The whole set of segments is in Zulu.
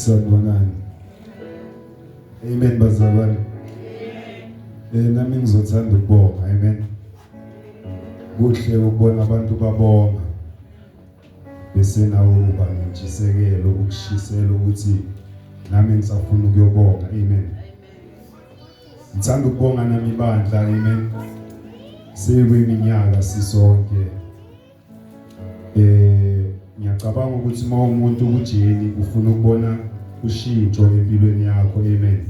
Sanibonani. Amen bazalwane. Eh nami ngizothanda ukubonga. Amen. Kuhle ukubona abantu babonga. Bese nawo uba nentshisekelo ukushisela ukuthi nami ngisafuna ukuyobonga. Amen. Ngithanda ukubonga nami bandla. Amen. Seyiminyaka sisonke Eh ngiyacabanga ukuthi uma umuntu ukujeni ufuna ukubona ushintsho empilweni yakho amen.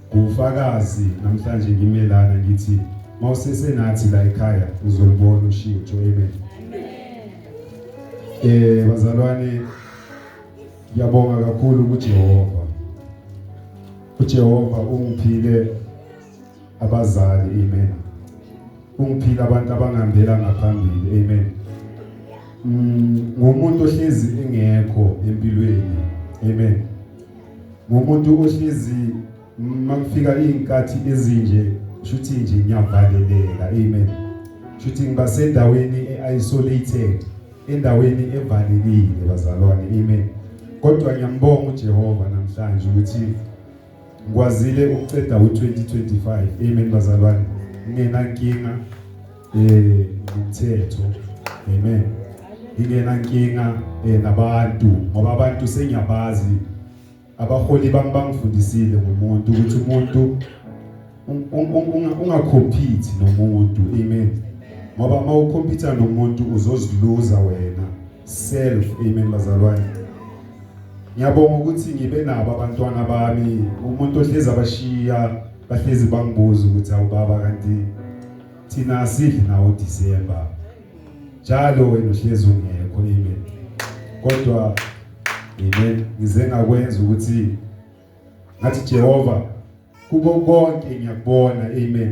Kufakazi namhlanje ngimelana ngithi mawusesenathi la ekhaya uzolibona ushintsho amen. Eh bazalwane ngiyabonga kakhulu kuJehova. UJehova ungiphile abazali amen ungiphila abantu abangihambela ngaphambili amen mm, ngumuntu ohlezi engekho empilweni amen ngumuntu ohlezi makufika izinkathi ezinje shuthi nje ngiyavaleleka amen shuthi ngiba sendaweni eisolated endaweni evalekile bazalwane amen kodwa ngiyambonga uJehova namhlanje ukuthi ngikwazile ukuceda u-2025 amen bazalwane ngingenankinga um eh, ngomthetho amen ngingenankinga um eh, nabantu ngoba abantu sengiyabazi abaholi bami bangifundisile ngomuntu ukuthi umuntu ungakhomphithi nomuntu amen ngoba uma ukhompyutha nomuntu uzoziluza wena self amen bazalwane ngiyabonga ukuthi ngibe nabo abantwana bami umuntu ohlezi abashiya bahlezi bangibuza ukuthi awubaba kanti thina sidli nawo December njalo wena uhlezi ungekho amen kodwa amen ngize ngakwenza ukuthi ngathi Jehova kubo konke ngiyakubona amen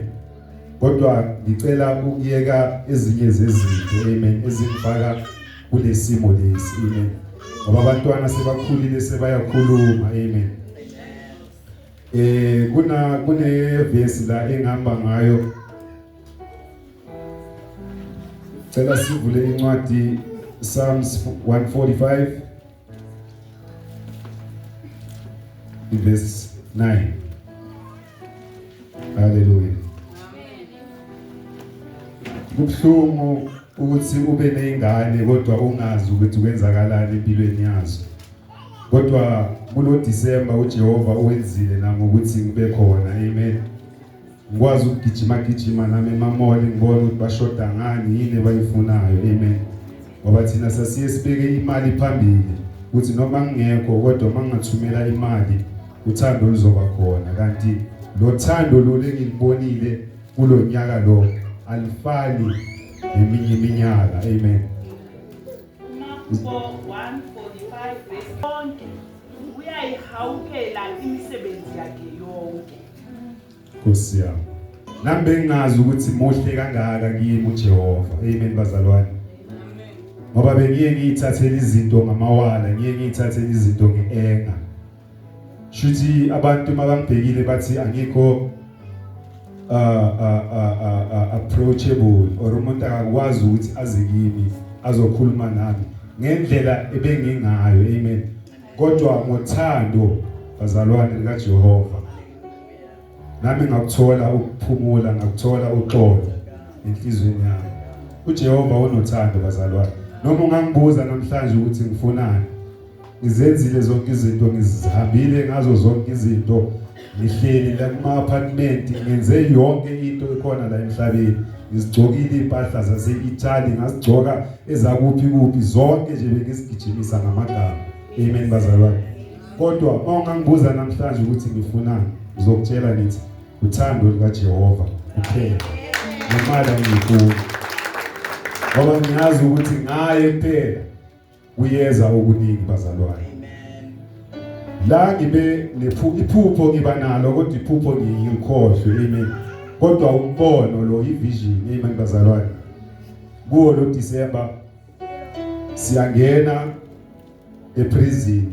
kodwa ngicela ukuyeka ezinye zezinto amen ezingifaka kulesimo lesi amen ngoba abantwana sebakhulile sebayakhuluma amen eh kuna kune verse la engihamba ngayo cela sivule incwadi Psalms 145 Verse 9. Hallelujah. Kubuhlungu ukuthi ube nezingane kodwa ungazi ukuthi kwenzakalani empilweni yazo. Kodwa kulo December uJehova uwenzile nangokuthi ngibe khona. Amen. ngikwazi ukugijima gijima nami emamoli ngibone ukuthi bashoda ngani yini abayifunayo amen ngoba thina sasiye sibeke imali phambili ukuthi noma ngingekho kodwa uma ngingathumela imali uthando luzoba khona kanti lo thando lolu engilibonile kulo nyaka lo alifani neminye iminyaka amen uyayihawukela imisebenzi yakhe yonke Nkosi yami. Nami bengingazi ukuthi muhle kangaka kimi uJehova. Amen bazalwane. Ngoba bengiye ngiyithathela izinto ngamawala, ngiye ngiyithathela izinto ngeenga. Shuthi abantu mabambhekile bathi angikho uh, uh, uh, uh, approachable or umuntu akakwazi ukuthi aze kimi azokhuluma nami ngendlela ebengingayo amen kodwa ngothando bazalwane likaJehova nami ngakuthola ukuphumula ngakuthola uxolo enhlizweni yami uJehova unothando bazalwane noma ungangibuza namhlanje ukuthi ngifunani ngizenzile zonke izinto ngizihambile ngazo zonke izinto ngihleli la kuma apartment ngenze yonke into ekhona la emhlabeni ngizigcokile impahla zase Italy ngazigcoka ezakuphi kuphi zonke nje bengizigijimisa ngamagama amen bazalwane kodwa uma ungangibuza namhlanje ukuthi ngifunani ngizokutshela ngithi uthando lukajehova kuphela nemali angiyifuni ngoba ngiyazi ukuthi ngaye kuphela kuyeza okuningi bazalwane la ngibe iphupho ngiba nalo kodwa iphupho ngiyikhohlwe amen kodwa umbono lo ivision amen bazalwane kuwo lo December siyangena eprison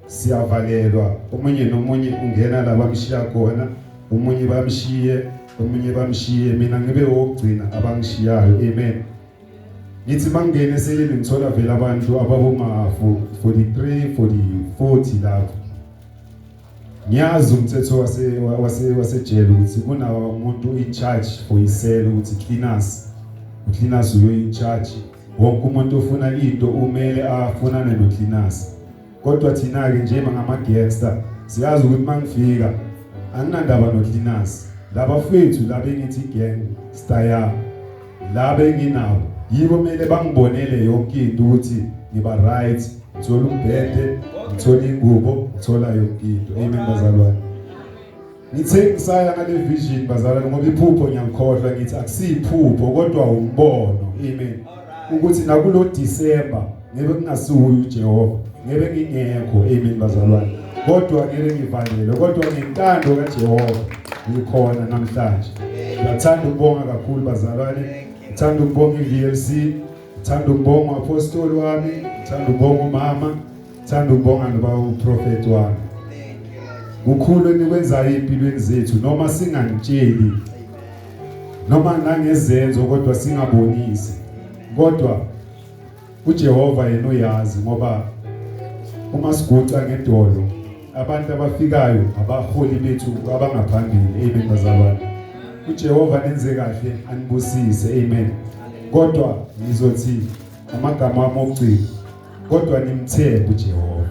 siyavalelwa omunye nomunye ungena la bamshiya khona omunye bamshiye omunye bamshiye mina ngibe wokugcina abangishiyayo amen ngithi bangene seleni ngithola vele abantu ababomafu 43 40 40 lapho Ngiyazi umthetho wase wase wasejele ukuthi kuna umuntu in charge for isele ukuthi cleaners ucleaners uyo in charge wonke umuntu ofuna into umele afunane no cleaners kodwa thina ke nje ngama gangster siyazi ukuthi mangifika anginandaba no cleaners laba fethu labe ngithi gang style laba enginawo yibo kumele bangibonele yonke into ukuthi ngiba right ngithola umbhede ngithola ingubo ngithola yonke into amen bazalwane ngithe ngisaya ngale vision bazalwane ngoba iphupho ngiyangikhohlwa ngithi akusiyiphupho kodwa umbono amen ukuthi nakulo December ngebe kungasiwuye uJehova ngebe ngingekho amen bazalwane kodwa ngeke ngivalele kodwa ngentando kaJehova ngikhona namhlanje ngiyathanda ukubonga kakhulu bazalwane ngithanda ukubonga iVLC ngithanda ukubonga uapostoli wami ngithanda ukubonga umama ngithanda ukubonga noba uprofet wami kukhulu enikwenzayo empilweni zethu noma singanitsheli noma nangezenzo kodwa singabonisi kodwa uJehova yena uyazi ngoba uma siguca ngedolo abantu abafikayo abaholi bethu abangaphambili amen bazalwane uJehova nenze kahle anibusise amen kodwa ngizothi amagama ami okugcina kodwa nimthembe uJehova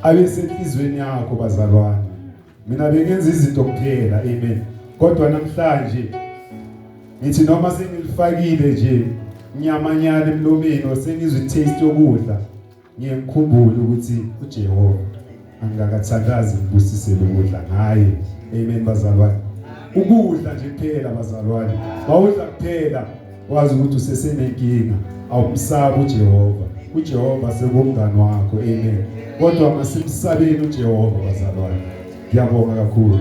abesenhlizweni yakho bazalwane mina bengenza izinto kuphela amen kodwa namhlanje ngithi noma sengilifakile nje nyamanyana emlomeni osengizwe taste yokudla ngiye ngikhumbule ukuthi uJehova angikakathandazi ngibusisele ukudla ngaye amen bazalwane ukudla nje kuphela bazalwane bawudla kuphela wazi ukuthi usesenenkinga awumsabi uJehova uJehova sekumngani wakho amen kodwa masimsabeni uJehova bazalwane ngiyabonga kakhulu